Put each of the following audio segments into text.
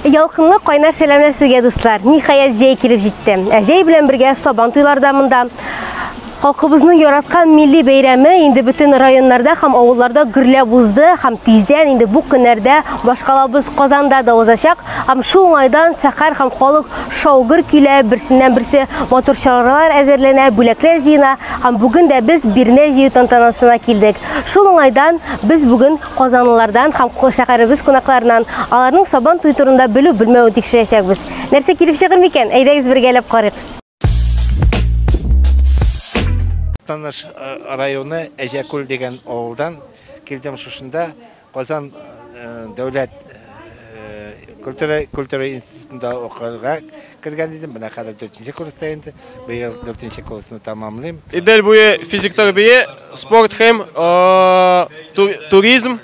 Ялкынлы кайнар сәламләр сезгә дуслар. Ниһаять җәй килеп җитте. Ә җәй белән бергә Сабан туйлары да монда. Халкыбызның яраткан милли бәйрәме инде бөтен районнарда һәм авылларда гөрләп узды һәм тиздән инде бу көннәрдә башкалабыз Казанда да узачак. Һәм шул уңайдан шәһәр һәм халык шау-гөр килә, берсеннән-берсе матур чаралар әзерләнә, бүләкләр җыена. Һәм бүген дә без бирнә җыю тантанасына килдек. Шул уңайдан без бүген казанлылардан һәм шәһәребез кунакларынан аларның Сабан туе турында белү-белмәвен тикшерәчәкбез. Нәрсә килеп чыгыр микән? Әйдәгез бергәләп карыйк. Таныш э, районы Әҗәкүл дигән авылдан килдем шушында Казан э, дәүләт э, культура институтында укырга кергән идем. Менә хәзер 4 курста инде. Быел 4 курсны тәмамлыйм. Идел буе физик тәрбия, спорт һәм туризм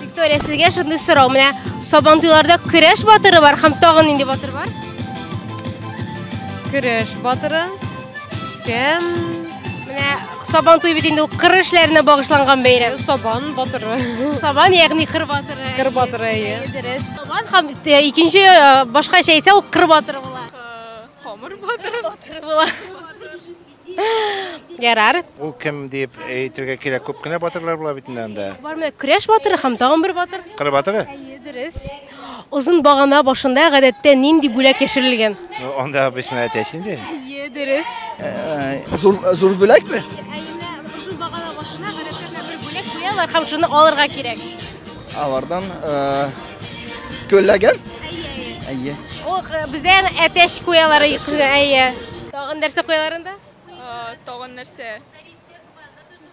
Виктория, сезгә шундый сорау. Менә Сабантуйларда көрәш батыры бар һәм тагын нинди батыр бар? Көрәш батыры. Кем? Менә Сабантуй бит инде ул кыр эшләренә багышланган бәйрәм. Сабан батыры. Сабан, ягъни кыр батыры. Кыр батыры, әйе. Дөрес. Сабан һәм э, икенче э, башкача әйтсә ул кыр батыры була. Э, Камыр батыры. Батыры була. Ярар. Ул кем дип әйтергә кирәк, күп кенә батырлар була бит инде анда. Бар менә көрәш батыры һәм тагын бер батыр. Кыр батыры? Әйе, дөрес. Озын багана башында гадәттә нинди бүләк яшерелгән? Ну, анда обычно әтәч инде. Әйе, дөрес. Зур зур бүләкме? Әйе, менә озын багана башына гадәттә бер бүләк куялар һәм шуны алырга кирәк. Алардан көлләгән? Әйе, әйе. Әйе. Ох, бездә әтәч куялар, әйе. Тагын нәрсә куялар анда? Тагын нәрсә?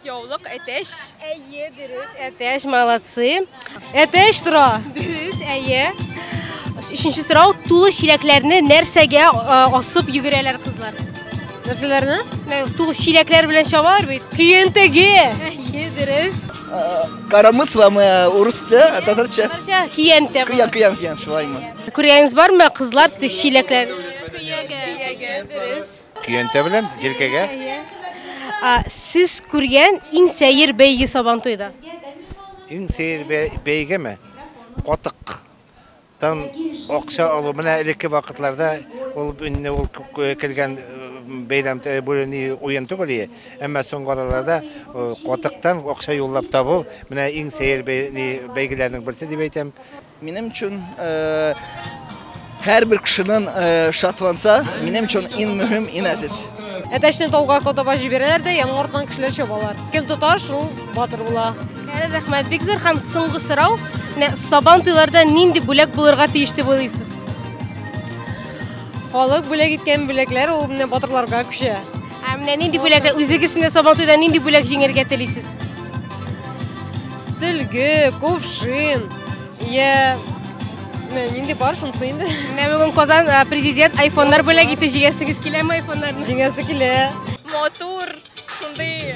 Яулык, әтәч. Әйе, дөрес, әтәч, молодцы. Әтәч тора. Дөрес, әйе. Өченче сорау, тулы чиләкләрне нәрсәгә асып йөгерәләр кызлар? Нәрсәләрне? Тулы чиләкләр белән чабалар бит. Көентеге. Әйе, дөрес. Карамыс ва мы урысча, татарча. Татарча, киянте. Киян, киян, киян, шулаймы? Күргәнегез бармы, кызлар чиләкләр? Көягә. Көягә, дөрес. Көянтә белән җилкәгә. А, сез күргән иң сәер бәйге Сабантуйда? Иң сәер бәйгеме? Катык тан акча алу менә элекке вакытларда ул инде ул кергән бәйрәм бүлени уен түгел ие әмма соңгы араларда катыктан акча юллап табу менә иң сәер бәйгеләрнең берсе дип әйтәм Минем өчен һәрбер кешенең шатланса, минем өчен иң мөһим, иң әзиз. Әтәчне тауга котаба җибәрәләр дә, яңа артыннан кешеләр чабалар. Кем тота, шул батыр була. Әле рәхмәт, бик зур һәм соңгы сорау. Сабан туйларда нинди бүләк булырга тиеш дип уйлыйсыз? Халык бүләк иткән бүләкләр ул менә батырларга күчә. Ә менә нинди бүләкләр үзегез менә Сабантуйда нинди бүләк җиңәргә телисез? Сөлге, кувшин, я менә нинди бар шунысы инде. Менә бүген Казан э, президент айфоннар бүләк итте. Җиңәсегез киләме айфоннарны? Җиңәсе килә. Матур, шундый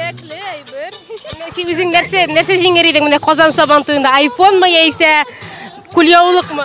кирәкле әйбер. Менә син үзең нәрсә нәрсә җиңәр идең менә Казан Сабантуенда? Айфонмы яисә кулъяулыкмы?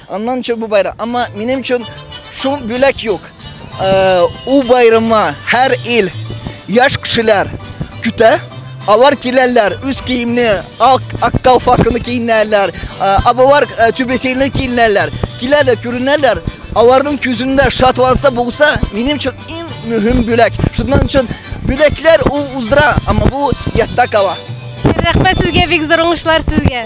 Аннан чын бу байрам. Әмма минем өчен шул бүләк юк. У байрама һәр ил яшь кешеләр көтә. Алар киләләр, үз киемне, ак, актау факыны киенәләр, абалар түбесейле киенәләр, киләләр, күренәләр. Аларның күзендә шатланса булса, минем өчен иң мөһим бүләк. Шуннан өчен бүләкләр ул уздыра, әмма бу ятта кала. Рәхмәт сезгә, бик зур уңышлар сезгә.